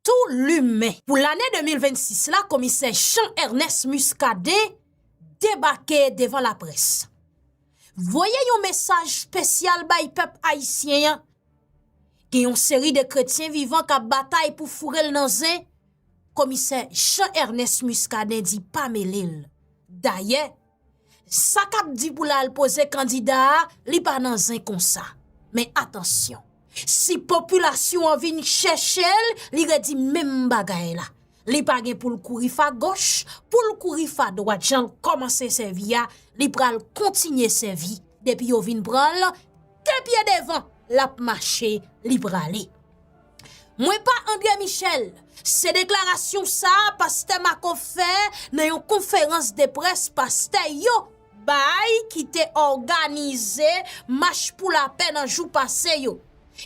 Tou limen. Pou lane 2026 la komisè Jean Ernest Muscadin debake devan laprès. Voye yon mesaj spesyal bay pèp ayisyen an. Gen yon seri de kretyen vivan k ap batay pou foure l nan zen, komisè Jean Ernest Muscadin di pa mele l. Dayè. Sa k ap di pou l al poze kandida a, li pa nan zen konsa. Men atansyon, si popilasyon an vin chèche l, li redi menm bagay la. Li pa gen pou l kouri fa goch, pou l kouri fa dwat jan l kòmanse sèvi a, li pral kontinye sèvi depi yo vin pran l, de pye devan l ap mache li prale. Mwen pa André Michel, se deklarasyon sa pastè Marco fè nan yon konferans de près pastè yo bay ki te òganize mach pou lapè nan jou pase yo.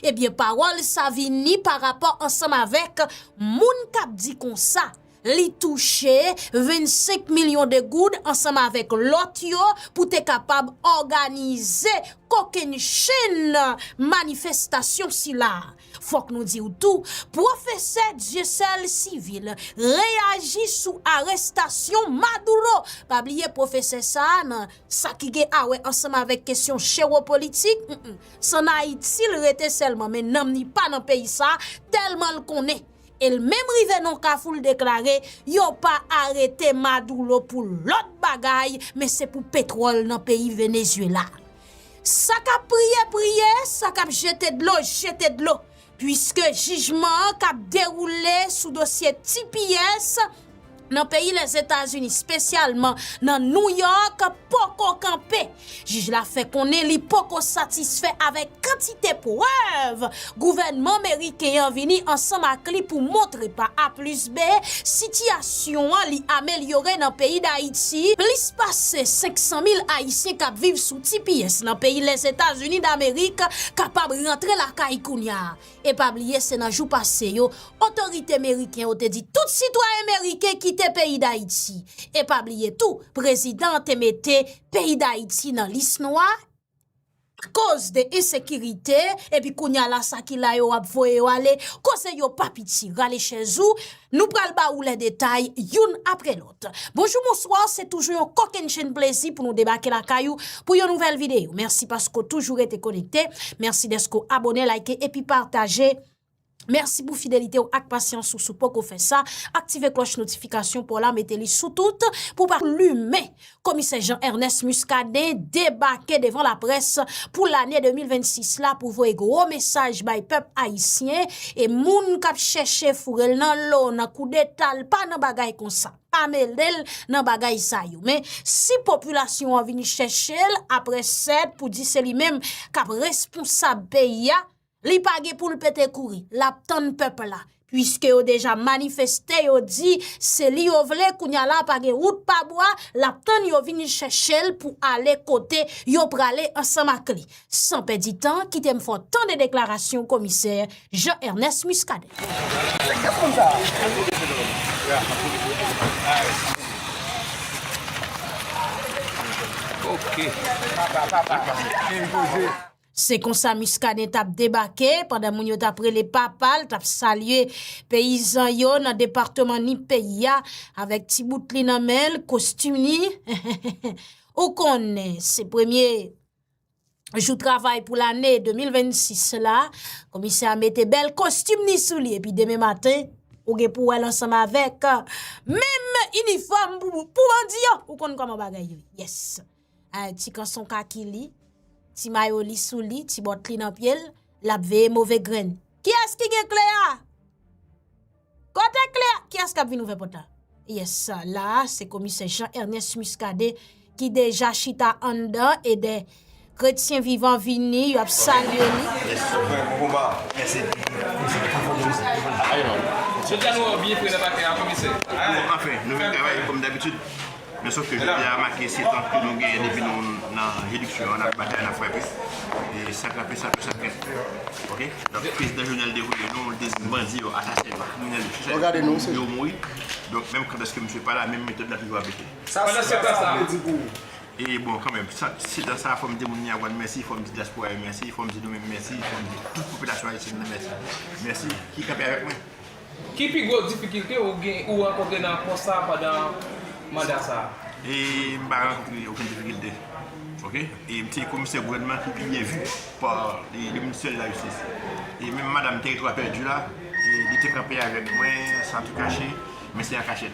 Ebyen pawòl sa vini pa rapò ansanm avèk moun kap di konsa Li touche 25 milyon de goud ansanm avèk lòt yo pou te kapab òganize kokennchenn manifestasyon sila. Fòk nou di w tou, pwofesè Dieuseul Civil reyaji sou arestasyon Maduro. Pa bliye pwofesè sa a nan sa ki gen awè ansanm avèk kesyon chewopolitik, s an Ayiti l rete sèlman men nanm li pa nan peyi sa a tèlman l konnen. e l menm rive nan kafou l deklare yo pa arete Madoulo pou lòt bagay men se pou petwòl nan peyi Venezyela. Sa k ap priye priye, sa k ap jete dlo jete dlo, puiske jijman an k ap dewoule sou dosye tps nan peyi Lèzetazini, spesyalman nan New York, poko kanpe. Jij la fè konnen li poko satisfè avèk kantite prèv gouvènman meriken an vini ansanm ak li pou montre pa A plis B, sitiyasyon an li amelyore nan peyi Dayiti. Plis pase 500 mil Ayisyen k ap viv sou tps nan peyi Lèzetazini Damerik kapab rantre lakay kounya. E pa bliye se nan jou pase yo, otorite meriken yo te di tout sitwayen meriken kite peyi Dayiti. E pa bliye tou, prezidan an te mete peyi Dayiti nan lis nwa, akoz de ensekirite, epi kounya la sa ki la yo ap voye yo ale, koze yo pa piti. Rale chèz ou, nou pral ba ou lè detay, youn apre lòt. Bonjou bonswa se toujou yon kokennchenn plezi pou nou debake lakay ou pou yon nouvèl videyo mèsi paske ou toujou rete konekte mèsi dèske ou abone like epi pataje mèsi pou fidelite ou ak pasyans ou sou poko fè sa aktive klòch notifikasyon pou la mete li sou tout pou pa plumen komisè jan ernès muscadin debake devan laprès pou lane 2026 la pou voye gwo mesaj bay pèp ayisyen. E moun kap chèche foure l nan lo, nan koudeta, l pa nan bagay konsa. Pa mele l nan bagay sa yo. Men, si popilasyon an vini chèche l, apre sèd pou di se li menm kap responsab peyi a, li pa gen pou l pete kouri. Lap tann pèp la. Piske yo deja manifeste, yo di, se li yo vle, kounya la pa gen wout pa bwa, lap tann yo vini chèche l pou ale kote yo prale ansanm ak li. San pèdi tan, kite m fè w tande deklarasyon komisè Jean Ernest Muscadin. Se konsa Muscadin t ap debake pandan moun yo t ap rele papa l, t ap salye peyizan yo nan departeman Nip peyi a avèk ti bout li nan men l, kostim li, ou konnen se premye jou travay pou lane 2026 la, komisè a mete bèl kostim ni sou li epi demen maten, ou gen pou wè l ansanm avèk menm inifòm pou bandi yo, ou konn kòman bagay yo ye, yes! Ti kanson kaki li, ti mayo li sou li, ti bòt li nan pye l, l ap veye move grenn. Kiyès ki gen kle a? Kote kle a? Kiyès kap vin ouvè pòt la? Yes, la a se komisè Jean Ernest Muscadin ki deja chita anndan e de kretyen vivan vini yo ap salye li. Men sof ke jodi a make setan ke nou genyen depi nou nan jiridiksyon an nap batay nap frape e sa k rape sa tou sa k rape ok donk prezidan jovenel devoye nou l deziye bandi yo asasen yo kriminèl yo chak fwa yo vle yo mouri donk menm kandèske misye pa la menm metòd la toujou ap rete pandan setan sa e bon kanmenm setan sa fòm di moun nyawòn mèsi fòm di dyaspora yo mèsi fòm di nou menm mèsi fòm di tout popilasyon ayisyèn nan mèsi mèsi ki kanpe avèk mwen. Ki pi gwo difikilte ou gen ou rankontre nan pòs sa a pandan manda sa a? E m pa rankontre okenn difikilte ok e m se komisè gouvènman ki pi byen vu pa le ministè de la jistis e menm madam teritwa pèdi la li te kanpe avèk mwen san tou kache men se an kachèt.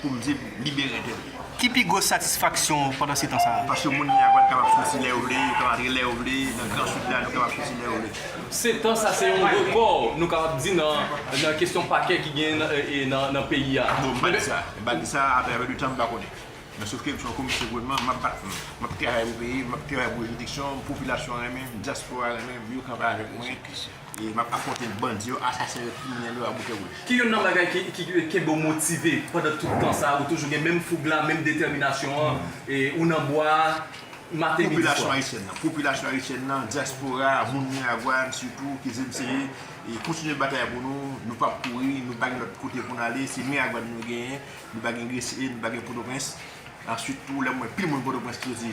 Pou m di l libere tèt li. Ki pi gwo satisfaksyon w pandan setan sa a? Paske moun ki apat kapab soti lè yo vle, yo kapab antre lè yo vle, nan gran Sid la, nou kapab soti lè yo vle. Setan sa se yon rekò nou kapab di nan kesyon pakè ki genyen nan peyi a. Non, m pa di sa. M pa di sa, apre anpil tan m pa konnen. Men sof ke m se yon komisè gouvènman, m ap bat m. M ap travay pou peyi m, m ap travay pou jidiksyon m, popilasyon an renmen m, dyaspora renmen m, yo kanpe avèk mwen. E map afronte bandi yo, asasen yo, kriminèl yo a bouke wouj. Ki youn nan bagay ki kenbe w motive pandan tout tan sa a? Ou toujou gen menm foug la, menm detèminasyon an, ou nan bwa a maten, midi, swa? Popilasyon ayisyèn nan. Popilasyon ayisyèn nan, dyaspora, moun Miragwàn sitou, kizil se ye, kontinye batay pou nou, nou pap kouri, nou pa gen lòt kote pou n ale, se Miragwàn nou genyen, nou pa gen Gresye, nou pa gen Pòtoprens. Answit tou, lè m wè pil moun Pòtoprens ki soti.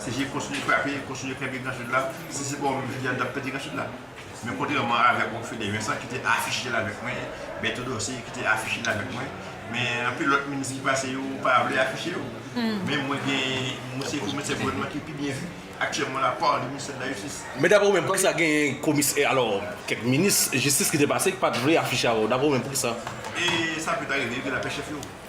CG kontinye frape, kontinye kenbe Gran Sid la. Si se pa ou menm jodi a nou t ap pèdi Gran Sid la. Men kontrèman avèk ou Fede Vincent ki te afiche l avèk mwen, Bertho Dorcé ki te afiche l avèk mwen, men anpil lòt minis ki pase yo pa vle afiche yo. Men mwen gen msye komisè gouvènman ki pi byen vi aktyèlman la pa de ministè de la jistis. Men daprè ou menm poukisa genyen komis e alò kèk minis jistis ki te pase ki pa t vle afiche avè w daprè ou menm poukisa? E sa pè ta rive wi ke la pè chèf yo.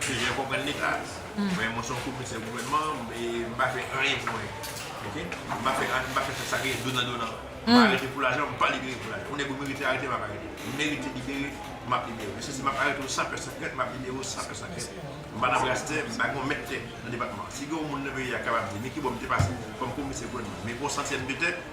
Se jan konprann li klass. Men mwen son komisè gouvènman e m pa fè anyen pou anyen. Ok. M pa fè anyen, m pa fè sa ki gen donan donan. M pa arete pou lajan, m pa libere pou lajan. Yon nèg ou merite arete m ap arete w. Ou merite libere, m ap libere w. Mesye si m ap arete w san pè san krent, m ap libere w san pè san krent. M pa nan bras tè, m pa gen yon mèt tè nan depatman an. Si gen yon moun nan peyi a kapab di men ki bò m te pase kòm komisè gouvènman, men yon santyèm de tè,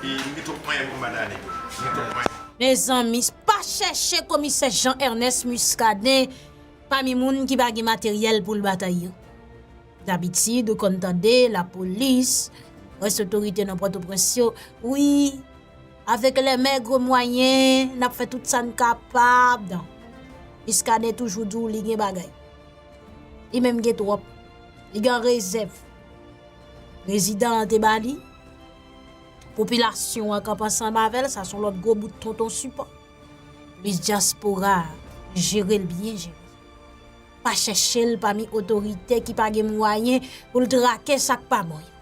E m gen twòp manyen pou m bat Dany tou. M gen twòp manyen. Mezanmi pa chèche komisè Jean Ernest Muscadin pami moun ki pa gen materyèl pou l batay yo. Dabitid ou konn tande lapolis, rès otorite nan Pòtoprens yo, wi, avèk lè mègre mwayen, n ap fè tout sa n kapab nan. Muscadin toujou di w li gen bagay. Li menm gen twòp. Li gen rezèv. Prezidan an te ba li. Popilasyon an kanpe ansanm avè l, sa son lòt gwo bout tonton sipò. Minis dyaspora a, jere l byen jere. Pa chèche l pami otorite ki pa gen mwayen pou l trake sa k pa bon yo.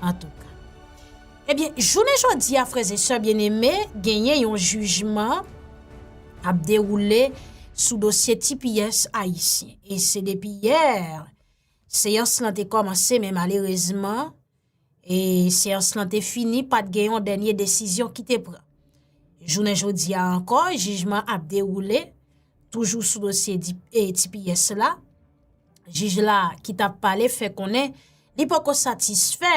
Antouka. Ebyen, jounen jodi a frèz e sè byeneme, genyen yon jijman ap dewoule sou dosye tipiyès ayisyen. E se depi yè, seyans lan te kòmanse men malerezman, E seyans lan te fini pat gen yon dènye desizyon ki te pran. Jounen jodi a ankò, jijman ap dewoule, toujou sou dosye e tps la, jij la ki tap pale fè konnen li poko satisfè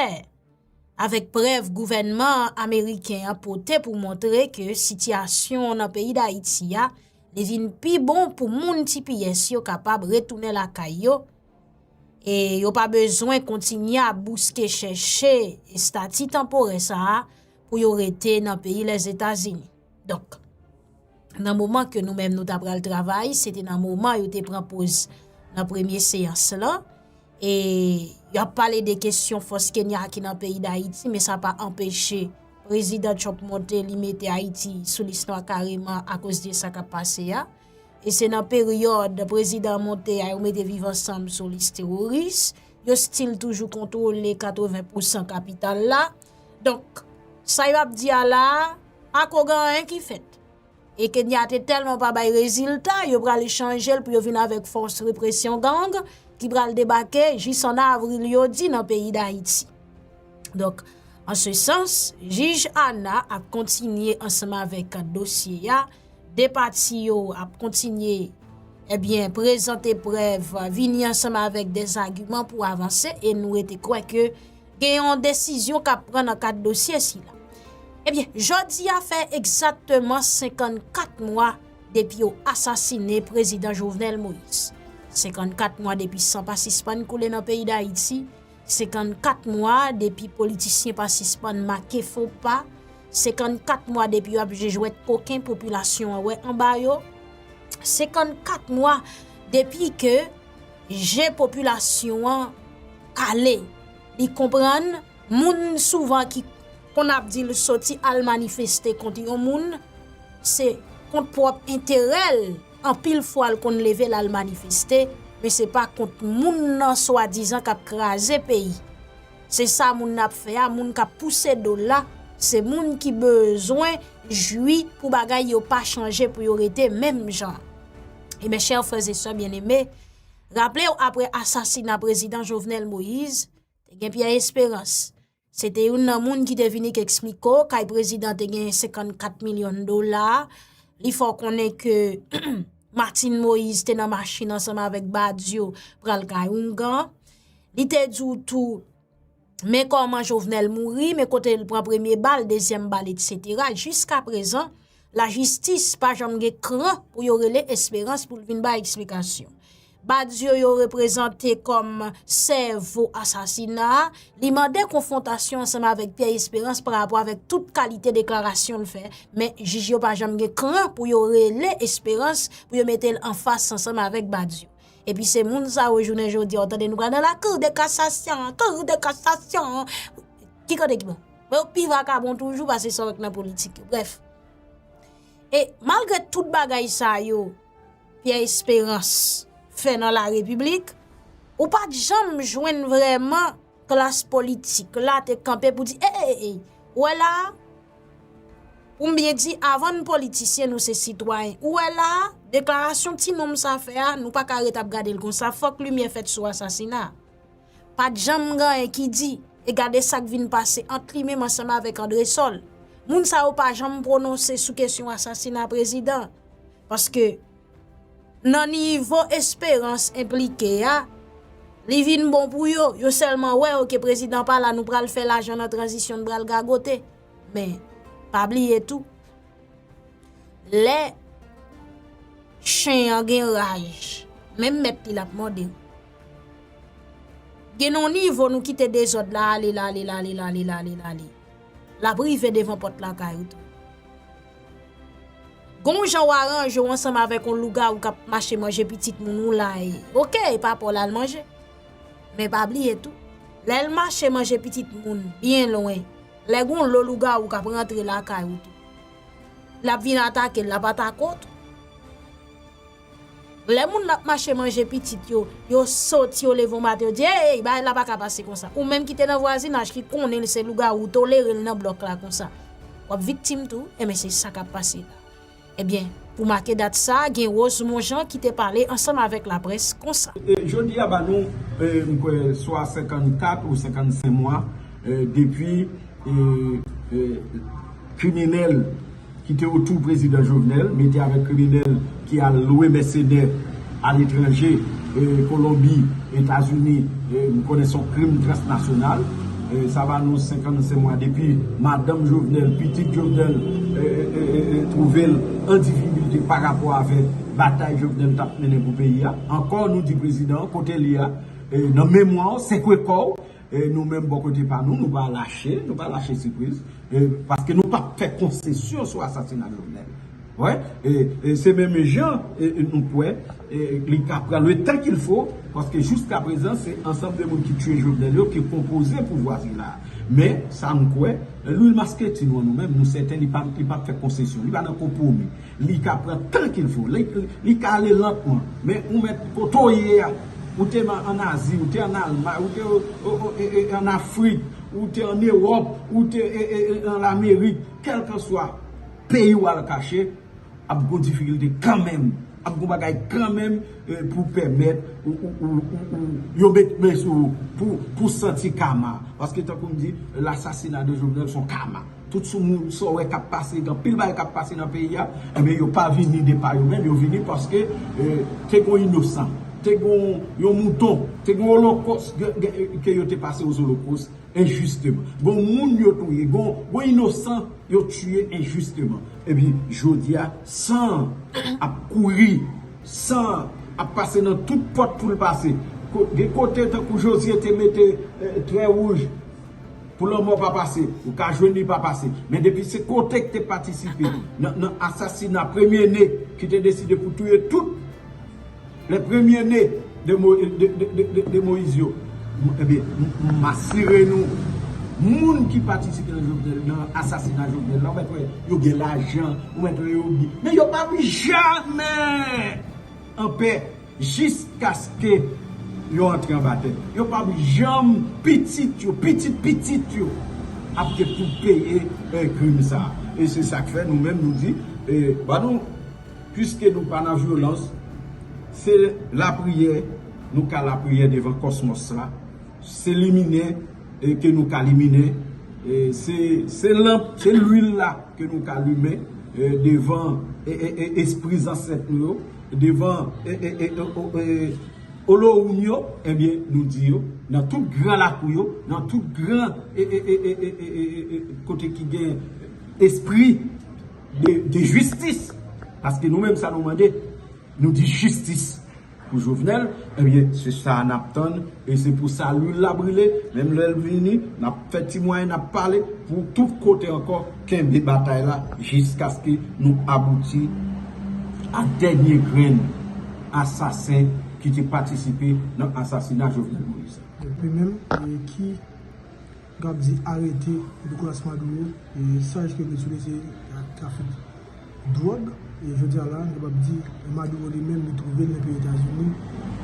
avèk prèv gouvènman ameriken an pote pou montre ke sityasyon nan peyi Dayiti a li vin pi bon pou moun tps yo kapab retounen lakay yo, e yo pa bezwen kontinye ap bouske chèche estati tanporè sa a pou yo rete nan peyi Lèzetazini. Donk, nan moman ke nou menm nou ta pral travay, se te nan moman yo te pran poz nan premye seyans lan, e yo ap pale de kesyon fòs Kenya ki nan peyi Dayiti, men sa pa anpeche Prezidan Trump monte li mete Ayiti sou lis nwa kareman akoz de sa kap pase a. E se nan peryòd prezidan monte a yo mete viv ansanm sou lis teworis, yo stil toujou kontwole 80 pousan kapital la. Donk, sa yo ap di a la, pa ko gen anyen ki fèt. E Kenya te tèlman pa bay rezilta, yo pral chanje l pou yo vin avèk fòs represyon gang ki pral debake jis an avril yo di nan peyi Dayiti. Donk, an se sans, jij Ana ap kontinye ansanm avèk dosye a. 2 pati yo ap kontinye ebyen prezante prèv vini ansanm avèk de zagiman pou avanse e nou rete kwè ke gen yon desizyon kap pran nan kat dosye sila. Ebyen, jodi a fè egzatteman 54 mwa depi yo asasine prezidan Jovenel Moïse. 54 mwa depi san pa sispann koule nan peyi Dayiti. 54 mwa depi politisyen pa sispann make fo pa, 54 mwa depi yo ap jwe jwèt koken popilasyon an wè anba yo, 54 mwa depi ke je popilasyon an kale, li konprann moun souvan ki konn ap di l soti al manifeste kont yon moun, se kont pwòp enterè l. anpil fwa l konn leve l al manifeste men se pa kont moun nan swadizan k ap kraze peyi se sa moun nan ap fè a moun k ap pouse do l la se moun ki bezwen jwi pou bagay yo pa chanje pou yo rete menm jan e men chè frè e sè byen eme raple w apre asasina prezidan jovenel moise te gen pyè esperans Se te youn nan moun ki te vini k espliko kay prezidan te gen 54 milyon dola, li fè w konnen ke Martine Moïse te nan machin ansanm avèk Badio pral kay oungan, li te di w tou men kòman Jovenel mouri, men kote l pran premye bal, dezyèm bal etc. Jiska prezan. La jistis pa janm gen kran pou yo rele esperans pou l vin bay eksplikasyon. Badio yo reprezante kom sèvo asasina a, li mande konfwontasyon ansanm avèk Pierre Esperance pa rapò avèk tout kalite deklarasyon l fè, men jij yo pa janm gen kran pou yo rele esperans pou yo mete l anfas ansanm avèk Badio. Epi se moun sa yo jounen jodi a w tande nou pral nan la cour de cassation, cour de cassation, ki kote ki bon? Bon yo pi vakabon toujou pase sa yo k nan politik yo. Brèf. E malgre tout bagay sa yo Pierre Esperance fè nan la repiblik, ou pat janm jwenn vreman klas politik la te kanpe pou di e e e e ou wè la a, pou m byen di avan n politisyen nou se sitwayen, ou wè la a deklarasyon ti nonm sa fè a nou pa ka ret ap gade l konsa fòk limyè fèt sou asasina a. Pat janm gen anyen ki di, e gade sak vin pase ant li menm ansanm avèk Andresol. Moun sa yo pa janm pwononse sou kesyon asasina prezidan. Paske nan nivo Esperance enplike a, li vin bon pou yo, yo sèlman wè ok prezidan pa la nou pral fè lajan nan tranzisyon n pral gagote. Men, pa bliye tou. Lè chen an gen raj, menm mèt li l ap mòde ou. Gen yon nivo nou kite dezòd la ale, l ale, l ale, l ale, l ale, l ale. L ap rive devan pòt lakay ou tou. Gen yon jan w aranje ou ansanm avèk yon lougawou k ap mache manje pitit moun ou la e. Ok, e pa pa w l al manje. Men pa bliye tou, lè l mache manje pitit moun byen lwen. Lè gon lo lougawou kap rantre lakay ou tou lap vin atake lap atake ou tou lè moun lap mache manje pitit yo yo soti yo leve yon maten yo di eyy bagay la paka pase konsa ou menm kite nan vwazinaj ki konnen l se lougawou ou tolere l nan blòk la konsa wap viktim tou enben se sa kap pase la. Ebyen, pou make dat sa, gen Rose Monjean ki te pale ansanm avèk laprès konsa. Jodi a ba nou, m kwè, swa 54 ou 55 mwa depi kriminèl ki te otou Prezidan Jovenel mete avèk kriminèl ki al lwe mèsenè. Aletranje, Kolonbi, Etazini, m konnen son krim transnasyonal. Sa va nou 55 mwa depi madanm Jovenel, pitit Jovenel twouve l an difikilte pa rapò avèk batay Jovenel t ap mennen pou peyi a. Ankò nou di prezidan an kote l ye a nan memwa w, sekwe kò w. Nou menm bò kote pa nou, nou pa lache, nou pa lache sipriz, paske nou pap fè konsesyon sou asasina Jovenel. Wè, e se menm jan nou kwè, li ka pran le tan kil fo, paske jouska prezan se ansanm de moun ki tue Jovenel yo ki konpoze pouvwa sila. Men, sa m kwè, Louis Masquetin wè nou menm, nou sèten li pap fè konsesyon, li pa nan konpwomi. Li ka pran tan kil fo. Li ka ale lantman. Men ou mèt kote w ye a. Ou te an Azi, ou te an Almay, ou te an Afrik, ou te an Ewòp, ou te an Lamerik, kèlkanswa peyi w al kache, ap gon difikilte kanmenm. Ap gon bagay kanmenm pou pèmèt ou yo met men sou ou pou santi kama. Paske tankou m di, lasasina de Jovenel son kama. Tout sou moun sa w wè kap pase gen anpil bagay kap pase nan peyi a enben yo pa vini de pa yo menm yo vini paske te gon inosan te gon yon mouton te gon olokos ke yo te pase ozolokos enjisteman gon moun yo touye gon inosan yo tiye enjisteman epi jodi a san an ap kouri san an ap pase nan tout pòt pou l pase gen kote tankou jozye te mete trè wouj. Pou lanmò pa pase, ou ka jwenn li pa pase. Men depi se kote ki te patisipe nan asasina premye ne ki te deside pou touye tout le premye ne de Moïse yo. Ebyen, m asire nou, moun ki patisipe nan Jovenel, nan asasina Jovenel la, ou mèt wè yo gen lajan, ou mèt wè yo byen. Men yo pa vin jamè anpè. Jiskaske yo antre anba tè. Yo p ap janm. Pitit yo, pitit pitit yo ap gen pou peye krim sa a. E se sa k fè nou menm nou di, ba nou piske nou pa nan vyolans, se lapriyè nou ka lapriyè devan kòsmòs sa, se limine ke nou ka limine, se lanp, se luil la ke nou ka limen devan espri zansèt nou yo. Devan Olowoun yo, ebyen nou di yo, nan tout gran lakou yo, nan tout gran kote ki gen espri de jistis, paske nou menm sa nou mande, nou di jistis pou Jovenel, ebyen se sa a nap tann, e se pou sa lwil la brile, menm lè l vini, nap fè ti mwayen, nap pale, pou tout kote ankò. Kenbe batay la jiskaske nou abouti a dènye grenn asasen ki te patisipe nan asasina Jovenel Moïse la. Epi menm ki kap di arete Nicolas Maduro, saj ke Venezuela se trafik. dwòg e jodi a la nou kapab di Maduro li menm li twouve l nan peyi Etazini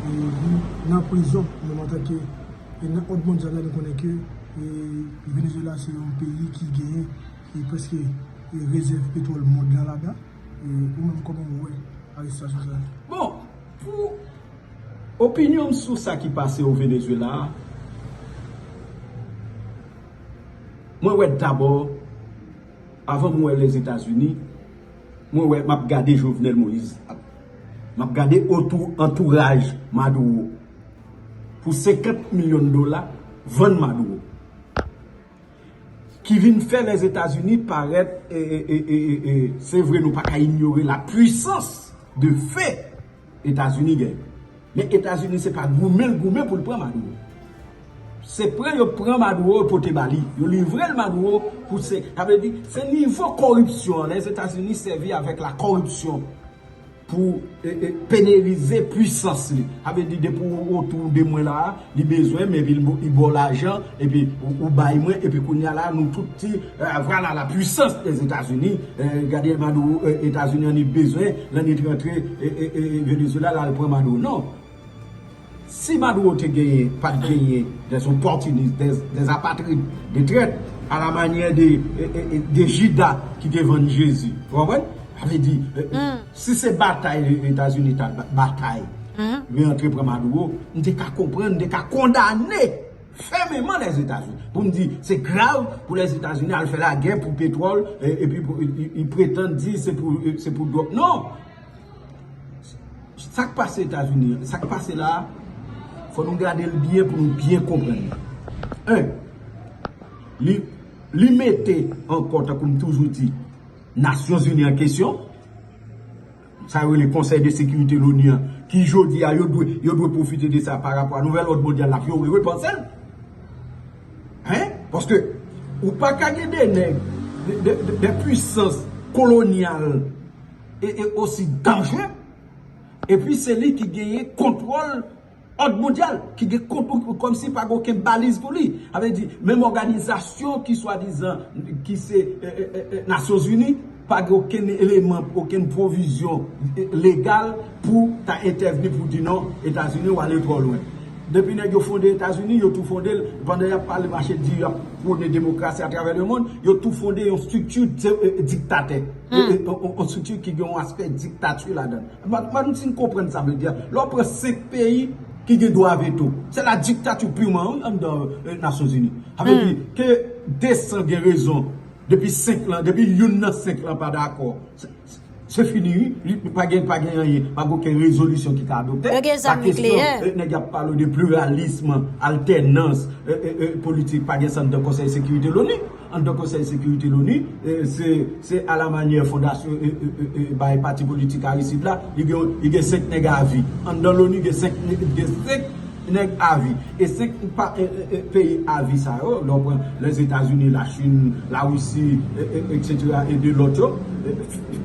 e li nan prizon menm antanke e nan òd mondyal la nou konnen ke Venezuela se yon peyi ki genyen e prèske e rezèv petwòl mond lan ladan e ou menm kòman ou wè arestasyon sa a? Bon, pou opinyon m sou sa ki pase o Venezuela a mwen wè dabò Avan mwen les etats unis mwen wè map gade jovenel moise ap map gade otou antouraj maduro pou 50 million dola vann maduro ki vin fè les etats unis parèt e e e e e sevre nou paka inyore la puissance de feu. Etazini gen. Men Etazini se pa goumen l goumen pou l pran Maduro. Se pran yo pran Maduro yo pote ba li. Yo livre l Maduro pou se. Sa vle di se nivo koripsyon an. Lèzetazini sèvi avèk la koripsyon pou penerize pwisans li. Sa vle di depi w otou de mwen la a, Li bezwen m epi li baw lajan epi ou bay mwen epi kounya la nou tout di vwala la pwisans les etazini gade maduro etazini an li bezwen l an li t rantre Venezuela l al pran maduro non si maduro te genyen pat genyen des opòtinis des apatrid de trèt a la manyè de jida ki te vann jezi ou konprann sa vle di. Si se batay etazini ta batay li antre pran maduro m te ka konprann m te ka kondane fèmeman lèzetazini pou m di se grav pou lèzetazini al fè lagè pou petwòl epi li pretann di se pou dwòg non sak pase etazini sak pase la fò nou gade l byen pou nou byen konprann li 1 li mete ankò tankou m toujou di Nasyon Zini an kesyon, sa yo rele Konsèy de Sekirite Loni an, ki jodi a yo dwe, yo dwe pwofite de sa pa rapò a Nouvèl Òd Mondyal la pou yo repanse l. Hein? Paske ou pa ka gen 2 nèg, 2 pwisans kolonyal e osi danjre, epi se li ki genyen kontwòl Òd mondyal ki gen konpou kòm si pa gen oken baliz pou li. A vle di, menm òganizasyon ki swa dizan ki se Nasyon Zini pa gen oken eleman, oken pwovizyon legal pou ta entèvni pou di non Etazini ou ale twò lwen. Depi nèg yo fonde Etazini, yo tou fonde l, pandan y ap pale mache di y ap pwone demokrasi atravè lemond, yo tou fonde yon strikti diktatè, yon strikti ki gen yon aspè diktati ladan l. Mwen m fin konprann sa vle di a. Lè w pran 5 peyi ki gen dwa veto. Se la diktati piman wi anndan Nasyonzini. Sa vle di ke 200 gen rezon depi 5 lan, depi youn nan 5 lan pa dakò, se fini wi. Li pa gen pa gen anyen, pa gen okenn rezolisyon ki ka adopte. Yo gen zam nikleyè. Pa kesyon nèg y ap pale de pliralism, altènans, politik pa gen sa anndan konsèy sekirite loni. Anndan Konsèy Sekirite Loni, se a la manyè fondasyon bay pati politik Aristide la, li gen 5 nèg a vi. Anndan Loni gen 5 nèg a vi. E 5 peyi a vi sa yo, lè w pran Lèzetazini, Lachin, Larisi, eksetera e 2 lòt yo,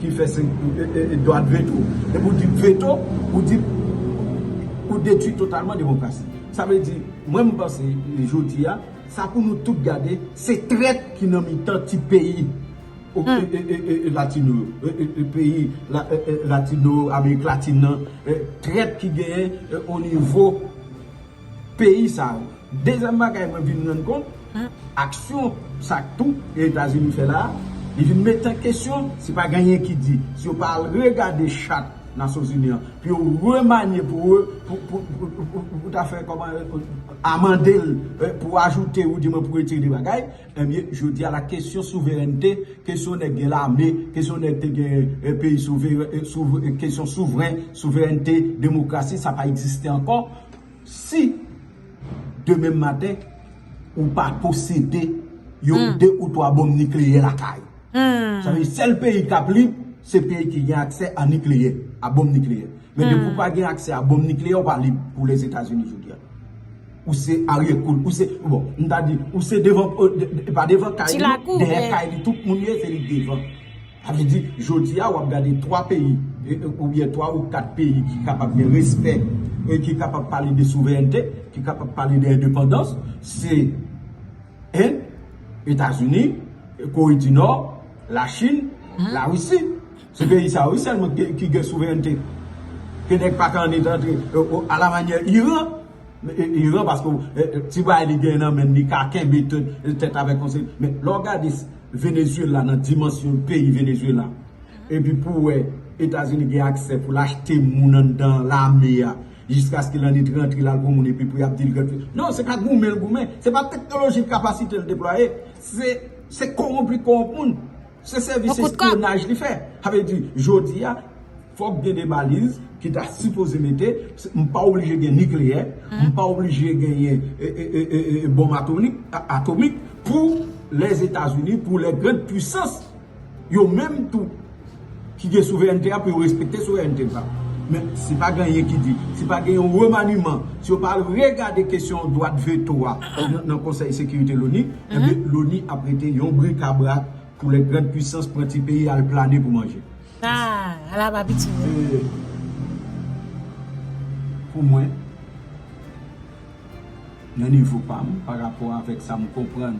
ki fè 5 dwat veto. Lè pou di veto, ou di, ou detwi totalman demokrasi. Sa vle di, mwen m panse, jodi a. Sa pou nou tout gade se trèt ki nan mitan ti peyi latino yo peyi latino amerik latin nan trèt ki genyen o nivo peyi sa yo dezyèm bagay mwen vin rann kont aksyon sa k tou etazini fè la li vin met an kesyon si pa genyen ki di si yo pa al regade chat nasyonzini an pou yo remanye pou ta fè kòman amande l pou ajoute ou di mwen pou retire 2 bagay, ebyen jodi a la kesyon souverènte, kesyon nèg gen lame, kesyon nèg te gen peyi souveren, kesyon souveren, souverènte, demokrasi sa pa egziste ankò, si demen maten ou pa posede yon 2 ou 3 bonm nikleyè lakay ou. Sa vle di sèl peyi kap lib se peyi ki gen aksè a nikleyè, a bonm nikleyè. Men depi ou pa gen aksè a bonm nikleyè ou pa lib pou Lèzetazini jodi a. Ou se aryè kou l, ou se, bon, m ta di, ou se devan, e pa devan kay li, dèyè kay li tout moun ye se li k devan. Sa vle di jodi a wap gade 3 peyi, ou byen 3 ou 4 peyi ki kapab gen respè e ki kapab pale de souverènte, ki kapab pale de endepandans, se. End, Etazini, Kore di Nò, Lachin, Larisi. Se peyi sa yo wi sèlman ki gen souverènte. Ke nèg pa ka annik antre. A la manyè Iran. Iran paske ti bagay li gen nan men li ka kenbe tèt avèk yon seri. Men lè w gade Venezuela nan dimansyon peyi Venezuela. Epi pou wè Etazini gen aksè pou l achte moun anndan lame a. Jiskaske lan nit rantre lal pou moun epi pou yap dil gad fi. Non se pa goumen l goumen. Se pa teknoloji l kapasite l deplwaye. Se se kowonp li kowonp moun. Se sèvis espyonaj li fè. Sa vle di jodi a fòk gen de baliz ki ta sipoze mete. M pa oblije gen nikleyè. M pa oblije genyen bonm atomik pou lèzetazini pou lè grand pwisans. Yo menm tou ki gen souverènte a pou yo respekte souverènte l pa. Men si pa gen anyen ki di, si pa gen yon remaniman, si yo pa al regade kesyon dwat veto a nan konsèy sekirite loni, enben loni ap rete yon brikabrak pou lè grand pwisans pran ti peyi al plane pou manje. Ah! Ala pa piti vre! E pou mwen, nan nivo pa m, pa rapò avèk sa m konprann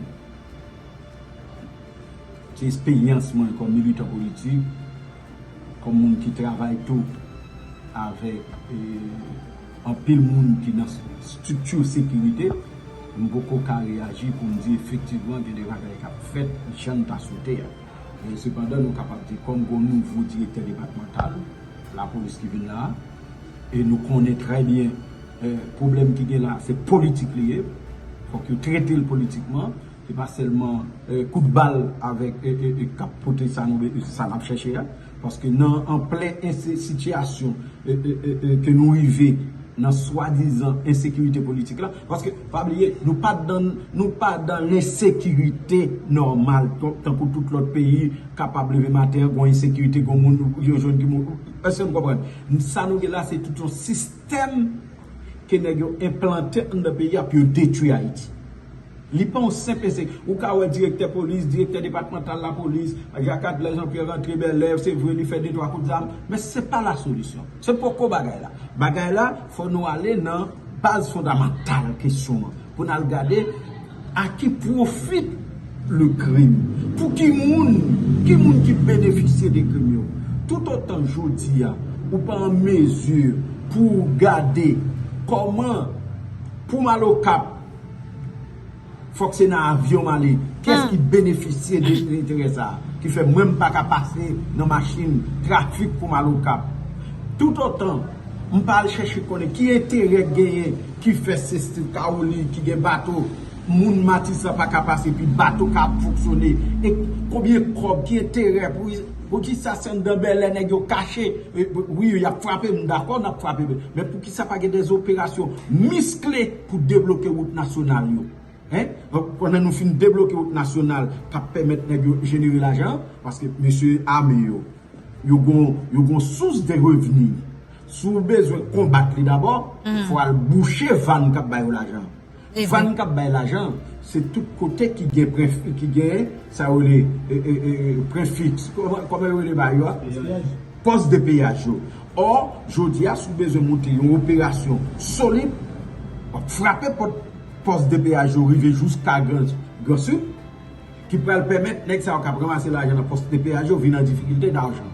Se esperyans mwen kòm militan politik, kòm moun ki travay tou avèk anpil moun ki nan estrikti sekirite, m poko ka reyaji pou m di efektivman gen de bagay k ap fèt jan n ta swete a. Men sepandan nou kapab di kòm gen yon nouvo direktè depatmantal lapolis ki vin la a, e nou konnen trè byen pwoblèm ki gen la a se politik li ye, fòk yo trete l politikman, Se pa sèlman kout bal avèk kap pote sa nou bezwen, sa nap chèche a. Paske nan an plen sitiyasyon ke nou rive nan swadizan ensekirite politik la. Paske pa bliye nou pa dan nou pa dan lensekirite nòmal tankou tout lòt peyi kapab leve maten an gon ensekirite gon moun yo jwenn ki moun. Eske nou konprann? Sa nou gen la se tout yon sistèm ke nèg yo enplante anndan peyi a pou yo detwi Ayiti. Li pa yon senp ense. Ou ka wè direktè polis, direktè depatmantal lapolis, Jacques Adler Jean Pierre rantre Bèlè, se vre li fè de twa kout zam, men se pa la solisyon. Se poko bagay la. Bagay la, fò nou ale nan baz fondamantal kesyon an, pou n al gade a ki profit le crime? Pou ki moun? Ki moun ki benefisye de krim yo? Toutotan jodi a, ou pa an mezi pou ou gade kòman pou m al Okap, Fok se nan avion m ale. Kès ki benefisye de enterè sa a ki fè mwen m pa ka pase nan machin trafik pou m al Okap? Toutotan m pa al chèche konnen ki enterè k genyen ki fè se Steve Caroly ki gen bato moun Matisan pa ka pase epi bato ka ap fonksyone e konbyen kòb ki enterè poukisa se anndan Bèlè nèg yo kache wi y ap frape m dakò n ap frape men poukisa pa gen dè operasyon miskle pou debloke wout nasyonal yo pandan nou fin debloke wout nasyonal kap pèmèt nèg yo jenere lajan paske mesye ame yo yo gon sous de revni si w bezwen konbat li dabò fò al bouche vann kap bay yo lajan vann kap bay lajan se tout kote ki gen prefik sa yo rele prefik kòman yo rele bagay yo a Pòs de peyaj yo. Or, jodi a si w bezwen monte yon operasyon solid, w ap frape pòt pòs de peyaj yo rive jouska Gran Sid, ki pral pèmèt nèg sa yo k ap ranmase lajan nan pòs de peyaj yo vin an difikilte dajan.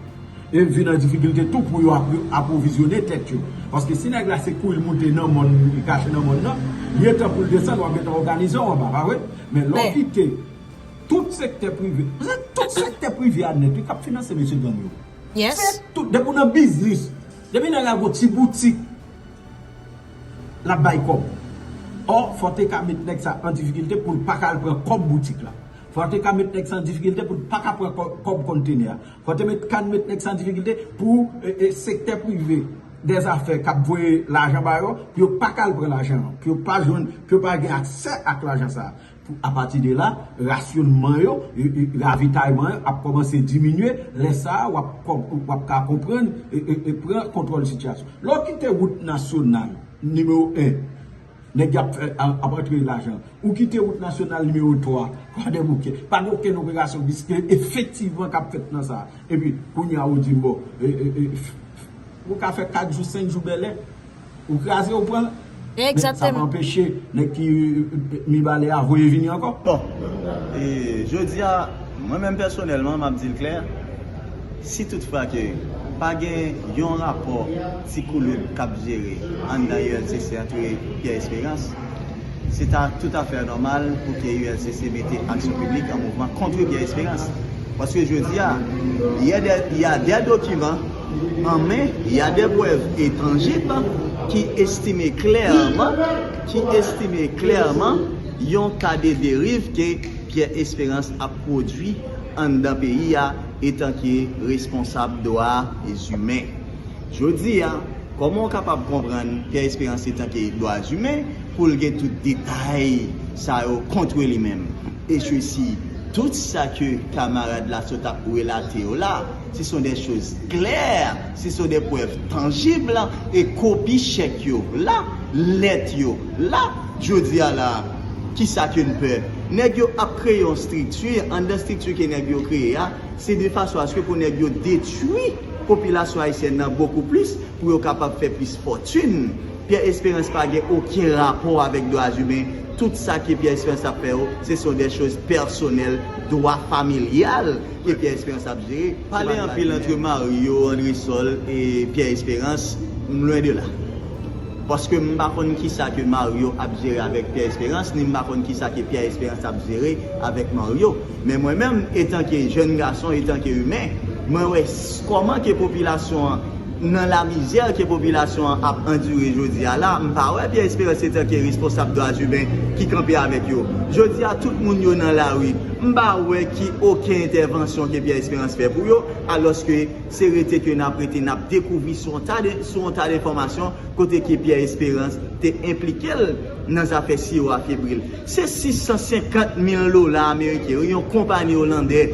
E vin an difikilte tou pou yo apwovizyone tèt yo. Paske si nèg la se kou li monte nan mòn, li kache nan mòn nan, li entan pou l desann, w ap gentan òganize w anba, pa vre? Men lè w kite. Tout sektè prive se tout sektè prive a nèt wi kap finanse mesye gang yo se tout depi ou nan biznis depi nèg la gon ti boutik lap bay kòb or fò te ka met nèg sa an difikilte poul paka al pran kòb boutik la fò te ka met nèg sa an difikilte poul paka pran kòb kontenè a fò te ka met nèg sa an difikilte pou sektè prive dèzafè kap voye lajan ba yo pou yo paka al pran lajan pou yo pa jwenn pou yo pa gen aksè ak lajan sa. Apati de la, rasyonman yo, ravitayman yo ap kòmanse diminye, lè sa a, w ap ka konprann, pran kontwòl sitiyasyon. Lè w kite wout nasyonal nimewo 1, nèg y ap antre lajan, ou kite wout nasyonal nimewo 3, kwadèboukè, pa gen okenn operasyon bis ki efektivman k ap fèt nan sa a. Epi, kounye a ou di m bon, ou ka fè 4 jou, 5 jou Bèlè, Ou kraze ou pran. Men sa pa anpeche nèg ki Mibalè a voye vini ankò. Bon, e jodi a, mwen menm pèsonèlman, m ap di l klè, si tout fwa ke pa gen yon rapò ti koulout k ap jere anndan ULCC antre Pierre Espérance, se ta tout a fè nòmal pou ke ULCC mete aksyon piblik an mouvman kontre Pierre Espérance. Paske jodi a, yè dè, y a dè dokiman. an men il y a des preuves et tangibles ki estime klèman ki estime klèman yon ka de deriv ke Pierre Espérance ap pwodui anndan peyi a etanke responsab dwa zimen. Jodi a, kòman ou kapab konprann Pierre Espérance etanke dwa zimen pou l gen tout detay sa yo kontre li menm? E sesi tout sa ke kamarad la sot ap relate yo la, si son dè choz klè, si son dè prèv tanjib, e kopi chèk yo la, lèt yo la, jodi a la a, ki sa ke n pè? Nèg yo ap kreye yon strikti, anndan strikti ke nèg yo kreye a, se de fason aske pou nèg yo detwi popilasyon ayisyèn nan bokou plis, pou yo kapab fè plis fòtin. Pyè Esperans pa gen oken rapò avèk dwa zimen, tout sa ke Pyè Esperans ap fè yo, se son dè choz pèsonèl, dwa familyal. ke Pierre Esperance ap jere se pa Pale anpil antre Mario, Andresol e Pierre Esperance m lwen de la. Paske m pa konn kisa ke Mario ap jere avèk Pierre Esperance ni m pa konn kisa ke Pierre Esperance ap jere avèk Mario. Men mwen menm etanke jèn gason, etanke imen, mwen wè kòman ke popilasyon an Nan la mizè ke popilasyon an ap andire jodi a la, m pa wè Pierre Esperance etanke responsab dwazumen ki kanpe avèk yo. Jodi a tout moun yo nan lari, m pa wè ki oken entèvansyon ke Pierre Esperance fè pou yo, alòske se rete ke n ap rete n ap dekouvri sou yon ta de, sou yon ta de enfòmasyon kote ke Pierre Esperance te enplike l nan zafè siwo a febril. Se 650 mil dola ameriken wi yon konpani olandè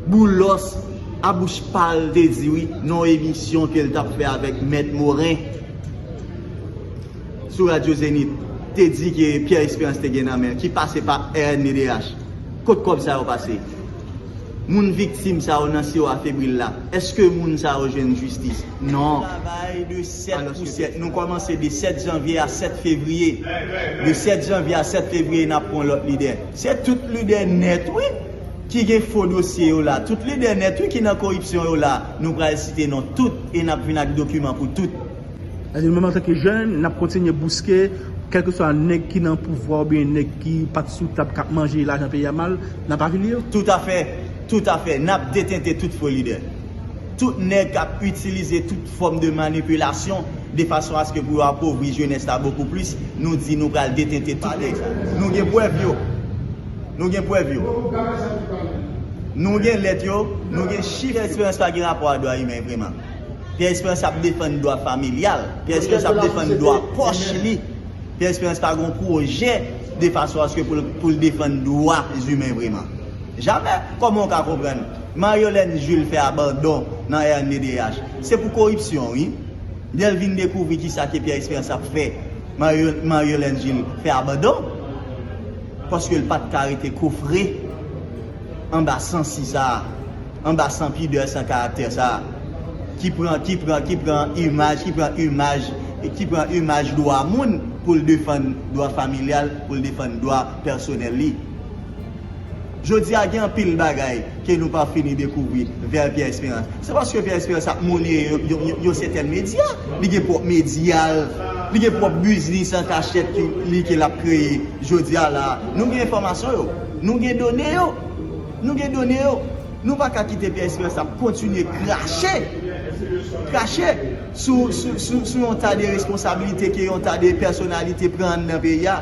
Boulos a bouch pal te di wi nan yon emisyon kel tap fè avèk mèt Morin sou radyo Zenith te di ke Pierre Esperance te gen nan men ki pase pa rnddh kot kòb sa yo pase moun viktim sa yo nan siwo a febril la eske moun sa yo jwenn jistis nan travay de 7 pou 7 nou kòmanse de 7 janvye a 7 fevriye de 7 janvye a 7 fevriye nap pwan lòt lidè. Se tout lidè nèt wi ki gen fo dosye yo la, tout lidè nèt wi ki nan koripsyon yo la, nou pral site non tout e nap vin ak dokiman pou tout. Eske nou menm antanke jèn nap kontinye bouske kèlkeswa nèg ki nan pouvwa oubyen nèg ki pat sou tab kap manje lajan peyi a mal, nap avili yo? Toutafè, toutafè, nap detente tout fo lidè, tout nèg kap itilize tout. fòm de manipilasyon de fason aske pou yo apovri jenès la bokou plis, nou di nou pral detente tout nèg sa yo. Nou gen prèv yo. Nou gen prèv yo. Nou gen lèt yo, nou gen chif. Pierre Esperance pa gen rapò a dwa imen vreman. Pierre Esperance ap defann dwa familyal. Pierre Esperance ap defann dwa pòch li. Pierre Esperance pa gen yon pwojè de fason aske pou l defann dwa imen vreman. Jamè! Kòman ou ka konprann? Maryolène Jules fè abandon nan rnddh se pou koripsyon wi. Lè l vin dekouvri kisa ke Pierre Esperance ap fè Maryolène Jules fè abandon paske l pat ka rete kofre anba sansi sa a, anba san pidè, san karaktè sa a ki pran ki pran ki pran imaj ki pran imaj ki pran imaj dwa moun pou l defann dwa familyal pou l defann dwa pèsonèl li. Jodi a gen anpil bagay ke nou pa fini dekouvri vè Pierre Espérance. Se paske Pierre Espérance ap mouline yon sètèn medya. Li gen pwòp medya l. Li gen pwòp biznis an kachèt li ke l ap kreye. Jodi a la a, nou gen enfòmasyon yo. Nou gen done yo. Nou gen done yo. Nou pa ka kite Pierre Espérance ap kontinye krache, krache sou yon ta de responsabilite ke yon ta de pèsonalite pran anndan peyi a.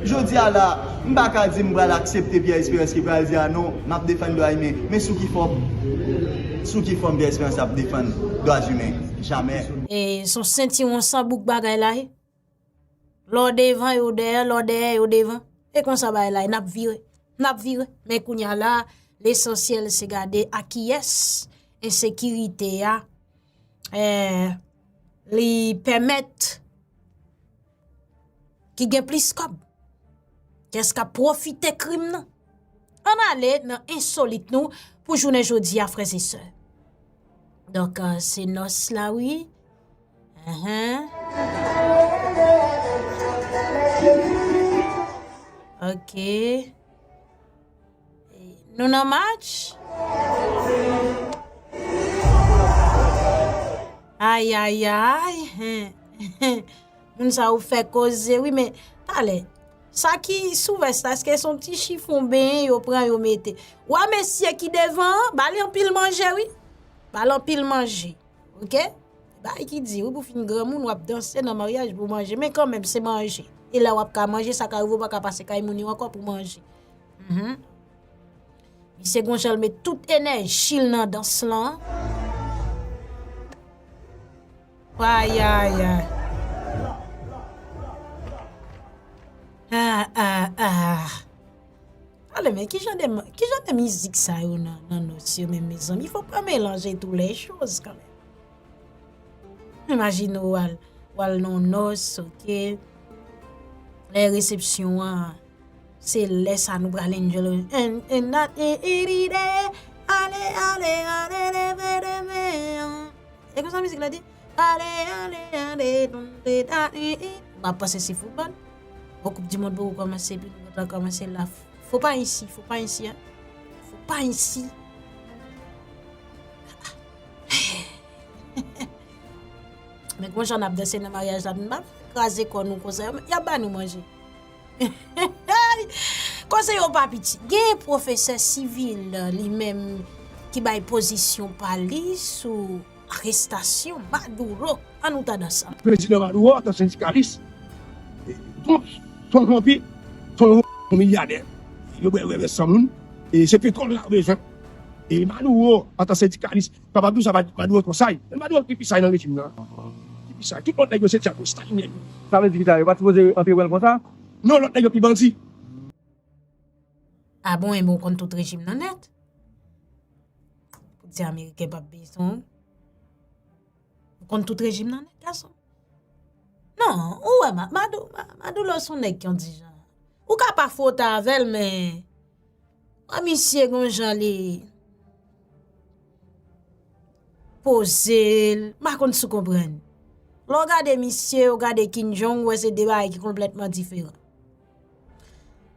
Jodi a la a, m pa ka di m pral aksepte Pierre Esperance ki pral di a non, m ap defann dwa imen. Men sou ki fòm? Sou ki fòm Pierre Esperance ap defann dwa imen? Jamè! E son sentiwon san bouk bagay la ye. Lè w devan yo dèyè, lè w dèyè yo devan. E konsa bagay la ye. N ap vire. N ap vire. Men kounye a la a, lesansyèl se gade a kiyès ensekirite a li pèmèt. ki gen plis kòb? Kiyès kap pwofite krim nan? Ann ale nan ensolit nou pou jounen jodi a frè se sè. Donk se nòs la wi. Ok. Nou nan match? Ayayay, moun sa yo fè koze wi men, talè, sa ki sou vès la, eske son ti chifon ben yo pran yo mete. Wè mesye ki devan, ba li anpil manje wi, ba li anpil manje. Ok Bagay ki di wi pou fin granmoun wap danse nan maryaj pou manje men kanmenm se manje e la wap ka manje sa ka rive ou pa ka pase kay moun yo ankò pou manje Humm Misye gon jan l met tout enèji l nan dans lan Ayayay Aah aah aah Ale men kijan de kijan de mizik sa yo nan nan nòs yo menm mezanmi fòk pa melanje tou lè choz kanmèm imajine ou al ou al nan yon nòs ok lè resepsyon an se lè sa nou pral enjoy eririre ale ale ale leve demen an e konsa mizik la di. Dale ale ale donde dale e M ap panse se foutbòl Bon koup di mond poko kòmanse epi nou gentan kòmanse la Fo pa ensi fo pa ensi an Fo pa ensi A a Heheheh Men kon jan n ap danse nan maryaj la M pa vle kraze kò nou konsa Y ap ba nou manje Heheheyy Kòse yo pa piti Gen pwofesè sivil li menm ki bay pozisyon pa li sou Arestasyon Maduro an nou ta dan sa. Prezidan Maduro antan sendikalis Trump son vanpi son yon milyadè yo bwè rève san moun e se petwòl la yo bezwen e Maduro antan sendikalis kapab di w sa Maduro twò saj e Maduro ki pi saj nan rejim nan ki pi saj tout lòt nèg yo se dyab yo stalinyen yo. Sa vle di ki sa yo pat sipoze antre pran l konsa? Non lòt nèg yo pi bandi. Ah bon enben ou konn tout rejim nan nèt? Pou di ameriken pap beye san ou? Ou konn tout rejim nan nèt gason? Non, ou wè Madoulo son nèg ki yon ti jan. Ou ka pa fwote avèl men, wè misye gon jan li poze, pa konn sou konprann. Lè w gade misye, ou gade Kim Jong, ou wè se de bagay ki konplètman diferan.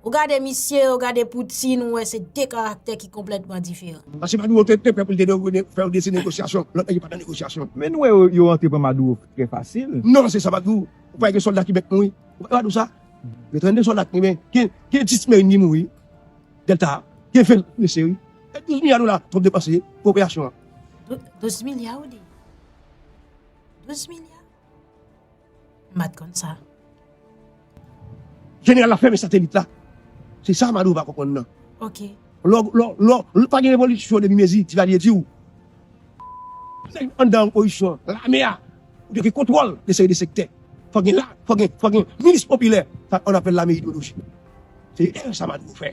Ou gade misye, ou gade Poutine, ou wè se 2 karaktè ki konplètman diferan. Paske Maduro te pè pou li te fè yon desi negosyasyon, lòt nèg yo pa nan negosyasyon. Men nou wè yo rantre pran Maduro trè fasil. Non se sa Maduro, ou pa wè gen sòlda ki mèt mouri? Ou pa wè Maduro sa? Gen 32 sòlda ki mourin, gen 10 merin ki mouri, Delta a, gen 20 ki blese wi. E 12 milya dola Trump depanse pou operasyon an? 12 milya ou di? 12 milya? M pat konn sa. Jeneral la fèmen satelit la. Se sa Maduro pa konprann nan. Ok. Lò, lò, lò, lò pa gen revolisyon depi mezi Divalye di ou. Nèg anndan opozisyon an, lame a, pou te gen kontwòl de seri de sektè. Fòk gen la, fòk gen, fòk gen milis popilè. Sa on apèl lame ideyolojik. Se erè sa Maduro fè.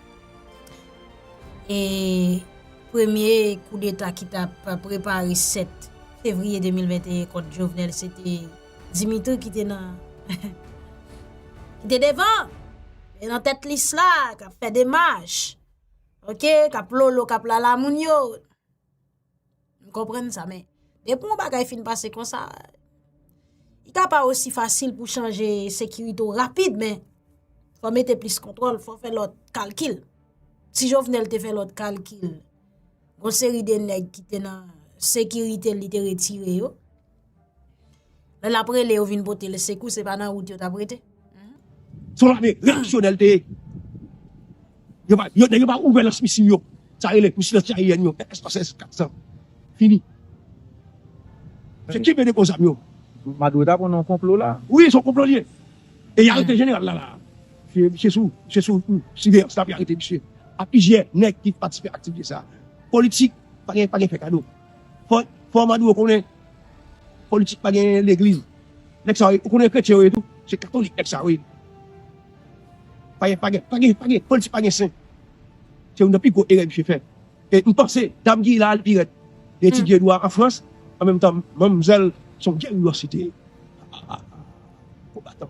e premye koudeta ki ta prepare 7 fevriye 2021 kont Jovenel se te Dimitri ki te nan ki te devan e nan tèt lis la kap fè demaj ok kap lolo kap lala moun yo M konprann sa men, depi yon bagay fin pase konsa, li ka pa osi fasil pou chanje sekirite ou rapid men, fò mete plis kontwòl, fò fè lòt kalkil. Ti Jovenel te fè lòt kalkil, yon seri de nèg ki te nan sekirite li te retire yo, Lè lap rele yo vin pote l sekou se pa nan wout yo tap rete. Son lame reyaksyonè l te ye. Nèg yo pa ouvè lans misil yo. Sa rele misil anti aryèn yo S-300, S-400. Fini. Se ki vende gwo zam yo. Maduro ta konn yon konplo la. Wi son konplo li ye. E y arete jeneral la la. Misye sou siveyans la pou y arete misye. Ak plizyè nèg ki patisipe aktivite sa. Politik pa gen fè kado. Fò maduro konnen politik pa gen legliz nèg sa yo ou konnen kretyen yo ye tou se katolik nèg sa yo ye politik pa gen sen se youn nan pi gwo erè misye fè e m panse dam ki la li pi rèd li etidye dwa an frans an menm tan manmzèl son geriwas li te ye konbatan.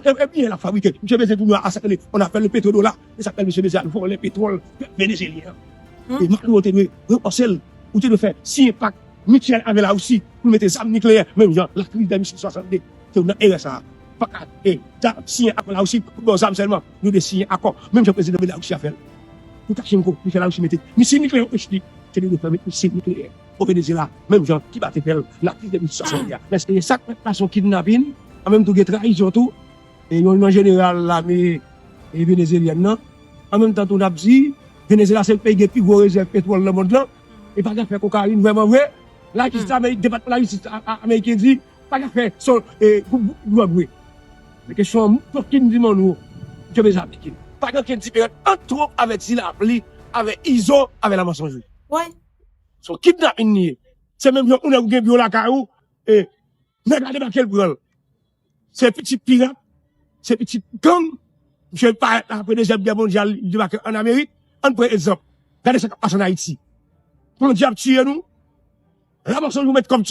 Trump e byen lap fabrike. Misye bezyen tounwa a sak li an afè le petro dola e sak fè misye bezyen al vòlè petròl pèp venezyelyen an. E Maduro te dwe repanse l. Ou te dwe fè siyen pak mityèl avè la Russie pou l mete zam nikleyè menm jan la kriz dè misil 62 te nan erè sa a. Paka e ja siyen akò la Russie pou baw zam sèlman. Nou dwe siyen akò menm jan prezidan belarusi a fè l pou Kachenko li fè la Russie mete misil nikleyè ou Russie te dwe fè met misil nikleyè. O Venezyela, menm jan Kiba te fè l nan kriz 2060 la, lèske gen sa k fèt fason kidnapin, an menm tou gen trayizon tou, e yon nan jeneral lame venezelyèn nan, an menm tan tou n ap di Venezyela se peyi gen pi gwo rezèv petwòl nan mond lan, e pa gen afè kokayin vrèman vre, lajis la, depatman lajistis ameriken di pa gen afè gwoup dwòg vre. Men kesyon an, Joaquín Dimano, je vais apliquer, pa gen okenn diferans ant twonp avèk ti lapli, avèk izo avèk la mansonjri. Woy! Son kidnapin li ye. Se menm jan yon nèg ou gen biyou lakay ou e nèg la debake l pran l. Se pitit pirat, se pitit gang. Misye parèt la apre dezyèm gè mondyal li debake an Amerik. Ann pran egzanp. Gade sa k ap pase an Ayiti. Bandi ap tiye nou. Lamanson yo met kòb sou.